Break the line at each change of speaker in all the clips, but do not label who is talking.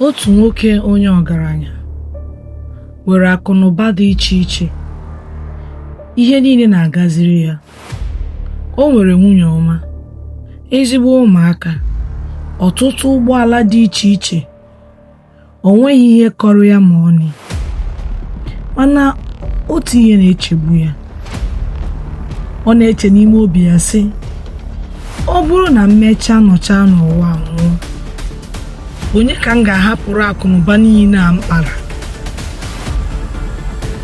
otu nwoke onye ọgaranya nwere akụnụba dị iche iche ihe niile na-agaziri ya o nwere nwunye ọma ezigbo ụmụaka ọtụtụ ụgbọala dị iche iche o nweghị ihe kọrọ ya ma ọnị mana otu ihe na-echegbu ya ọ na-eche n'ime obi ya sị ọ bụrụ na m mechaa nọchaa n'ụwa nwụọ onye ka m ga-ahapụrụ akụnụba niile a m kpara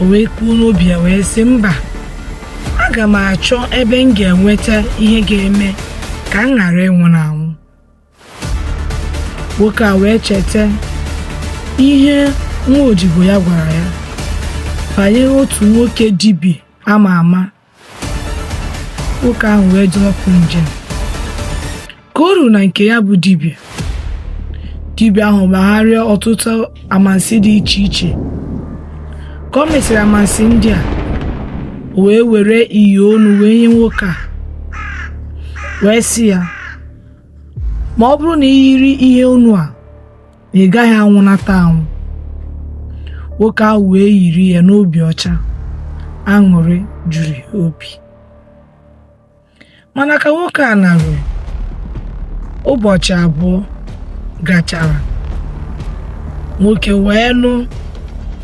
o wee kwuo n'obi ya wee sị mba aga m achọ ebe m ga-enweta ihe ga-eme ka m ghara ịnwụ na anwụ nwoke a wee cheta ihe nwa odibo ya gwara ya banyere otu nwoke dibịa ama ama nwoke ahụ wee zọọ ụkwụ njem ka o ruru na nke ya bụ dibịa dibịa ahụ gbagharịa ọtụtụ amansi dị iche iche ka o mesịrị amansi ndị a o wee were ihe onu wee nye nwoke a wee sị ya ma ọ bụrụ na i yiri ihe onu a na ị gaghị anwụnata anwụ nwoke ahụ wee yiri ya n'obi ọcha aṅụrị juru ya obi mana ka nwoke a naruru ụbọchị abụọ gachara nwoke wee nụ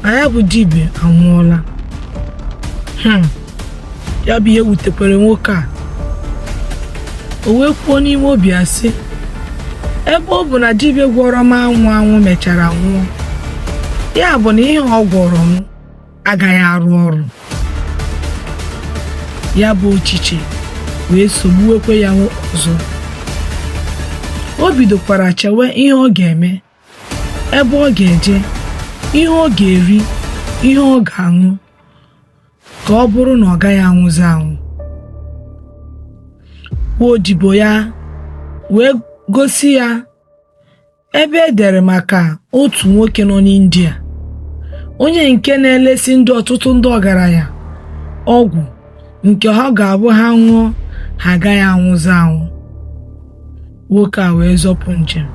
na ya bụ dibịa anwụọla hmm. ya bụ ihe wutekwere nwoke a o wee kwuo n'ime obi ya sị ebe ọ bụ na dibịa gwọrọ m anwụ anwụ mechara nwụọ ya bụ na ihe ọ gwọrọ m agaghị arụ ọrụ ya bụ echiche wee sogbuwekwe ya ọzọ o bidokwara chewe ihe ọ ga-eme ebe ọ ga-eje ihe ọ ga-eri ihe ọ ga-aṅụ ka ọ bụrụ na ọ gaghị anwụzi anwụ odibo ya wee gosi ya ebe e dere maka otu nwoke nọ n'India onye nke na-elesi ndị ọtụtụ ndị ọgaranya ọgwụ nke ha ga-abụ ha ṅụọ ha agaghị anwụzi anwụ nwoke a wee zọpụ njem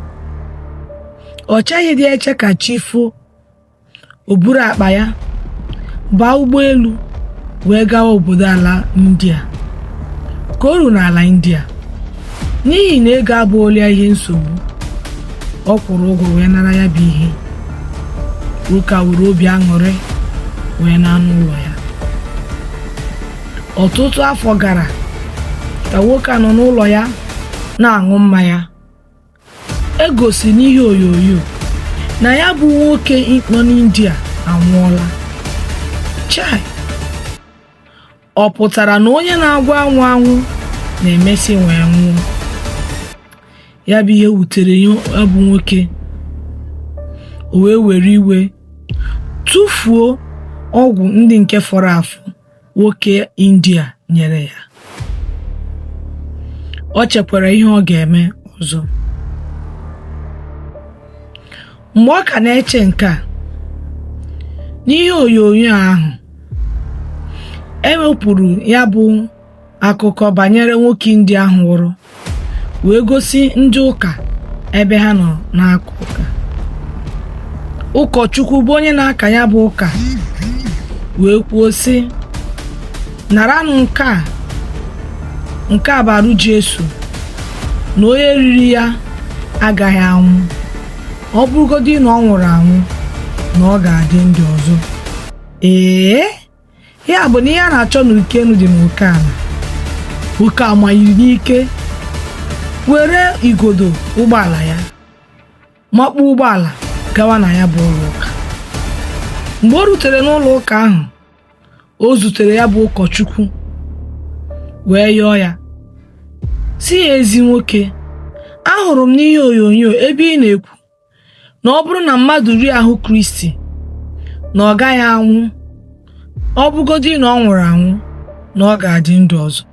o cheghịdị eche ka chi fo o buru akpa ya baa ụgbọelu wee gawa obodo ala india ka o ruru n'ala india n'ihi na ego abụrọlụ ya ihe nsogbu ọ kwụrụ ụgwọ wee nara ya bụ ihe nwoke a were obi aṅụrị wee naa n'ụlọ ya ọtụtụ afọ gara ka nwoke a nọ n'ụlọ ya na-aṅụ mmanya e gosi n'ihe onyonyo na ya bụ nwoke nọ n'India anwụọla chai ọ pụtara na onye na-agwọ anwụ anwụ na-emesị wee nwụọ ya bụ ihe wutere ya bụ nwoke o wee were iwe tụfuo ọgwụ ndị nke fọrọ afọ nwoke india nyere ya o chekwara ihe ọ ga-eme ọzọ mgbe ọ ka na-eche nke a n'ihe onyonyo ahụ e wepụrụ ya bụ akụkọ banyere nwoke India ahụ nwụrụ wee gosi ndị ụka ebe ha nọ na-aka ụka ụkọchukwu bụ onye na-aka ya bụ ụka wee kwuo sị naranụ nke a nke a bụ arụ Jesu na onye riri ya agaghị anwụ ọ bụrụgodị na ọ nwụrụ anwụ na ọ ga-adị ndụ ọzọ ee ya bụ na ihe a na-achọ n'uko enu dị n'uko ala nwoke a manyiri n'ike were igodo ụgbọala ya makpuo ụgbọala gawa na ya bụ ụlọ ụka mgbe o rutere n'ụlọ ụka ahụ o zutere ya bụ ụkọchukwu wee yọọ ya sị ya ezi nwoke ahụrụ m n'ihe onyonyo ebe ị na-ekwu na ọ bụrụ na mmadụ rie ahụ kristi na ọ gaghị anwụ ọ bụgodị na ọ nwụrụ anwụ na ọ ga-adị ndụ ọzọ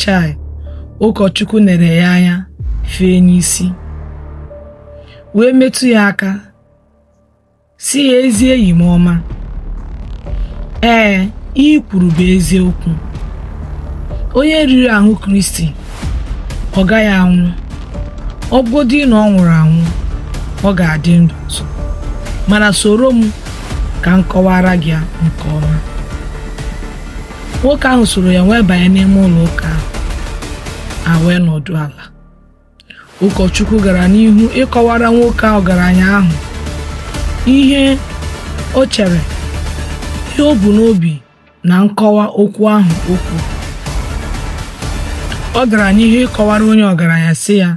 chai ụkọchukwu nere ya anya fee n'isi wee metụ ya aka sị ya ezi enyi m ọma ee ihe i kwuru bụ eziokwu onye riri ahụ kristi ọ gaghị anwụ ọ bụgodị na ọ nwụrụ anwụ ọ ga-adị ndụ ọzọ mana soro m ka m kọwara gị ya nke ọma nwoke ahụ soro ya wee banye n'ime ụlọ ụka ahụ ha wee nọdụ ala ụkọchukwu gara n'ihu ịkọwara nwoke a ọgaranya ahụ ihe o chere ihe o bu n'obi na nkọwa okwu ahụ o kwuru ọ gara n'ihu ịkọwara onye ọgaranya sị ya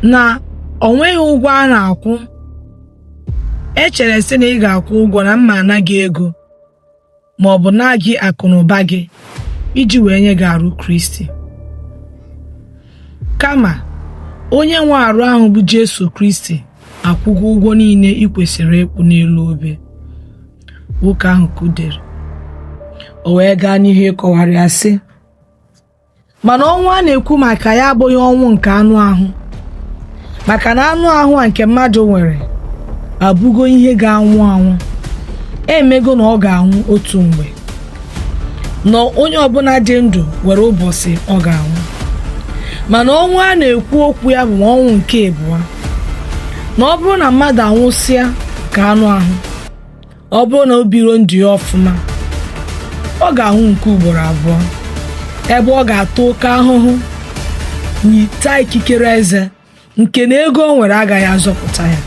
na o nweghị ụgwọ a na-akwụ echere sị na ị ga-akwụ ụgwọ na m ga-ana gị ego ma ọ bụ naa gị akụ na ụba gị iji wee nye gị arụ Kristi kama onye nwe arụ ahụ bụ Jesu Kristi akwụgo ụgwọ niile i kwesịrị ịkwụ n'elu obe nwoke ahụ kudere o wee gaa n'ihu ịkọwara ya sị mana ọnwụ a na-ekwu maka ya abụghị ọnwụ nke anụ ahụ maka na anụ ahụ a nke mmadụ nwere abụgo ihe ga-anwụ anwụ emego na ọ ga-anwụ otu mgbe na onye ọbụla dị ndụ nwere ụbọchị ọ ga-anwụ mana ọnwụ a na-ekwu okwu ya bụ ọnwụ nke abụọ na ọ bụrụ na mmadụ anwụsịa nke anụ ahụ ọ bụrụ na o biro ndụ ya ọfụma ọ ga-anwụ nke ugboro abụọ ebe ọ ga-ata oke ahụhụ na ịta ikikere eze nke na ego o nwere agaghị azọpụta ya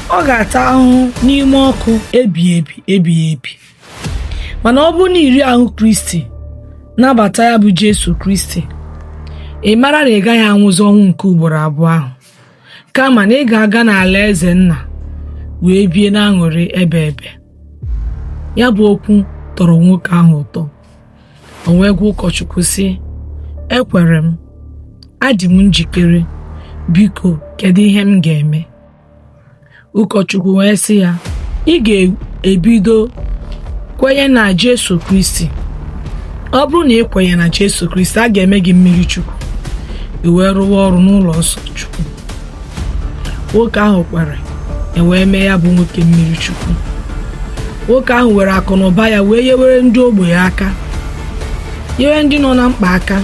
ọ ga-ata ahụhụ n'ime ọkụ ebighị ebi ebighị ebi mana ọ bụrụ na i rie ahụ kristi nabata ya bụ jesu kristi ị mara na ị gaghị anwụzi ọnwụ nke ugboro abụọ ahụ kama na ị ga-aga n'alaeze nna wee bie n'aṅụrị ebe ebe ya bụ okwu tọrọ nwoke ahụ ụtọ o wee gwa ụkọchukwu sị ekwere m adị m njikere biko kedu ihe m ga-eme ụkọchukwu wee sị ya ị ga-ebido kwenye na Jesu Kristi ọ bụrụ na i kwenye na Jesu Kristi a ga-eme gị mmiri chukwu i wee rụwa ọrụ n'ụlọ nsọ chukwu nwoke ahụ kwere e wee mee ya bụ nwoke mmiri chukwu nwoke ahụ were akụ na ụba ya wee yewere ndị ogbenye aka yewere ndị nọ na mkpa aka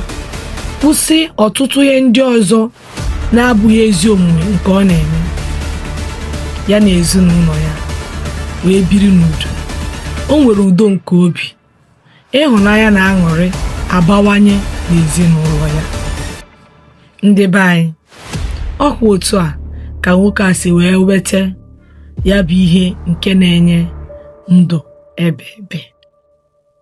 kwụsị ọtụtụ ihe ndị ọzọ na-abụghị ezi omume nke ọ na-eme ya na ezinụlọ ya wee biri n'udo o nwere udo nke obi ịhụnanya na aṅụrị abawanye n'ezinụlọ ya ndị be anyị ọkwa otu a ka nwoke a si wee weta ya bụ ihe nke na-enye ndụ ebe ebe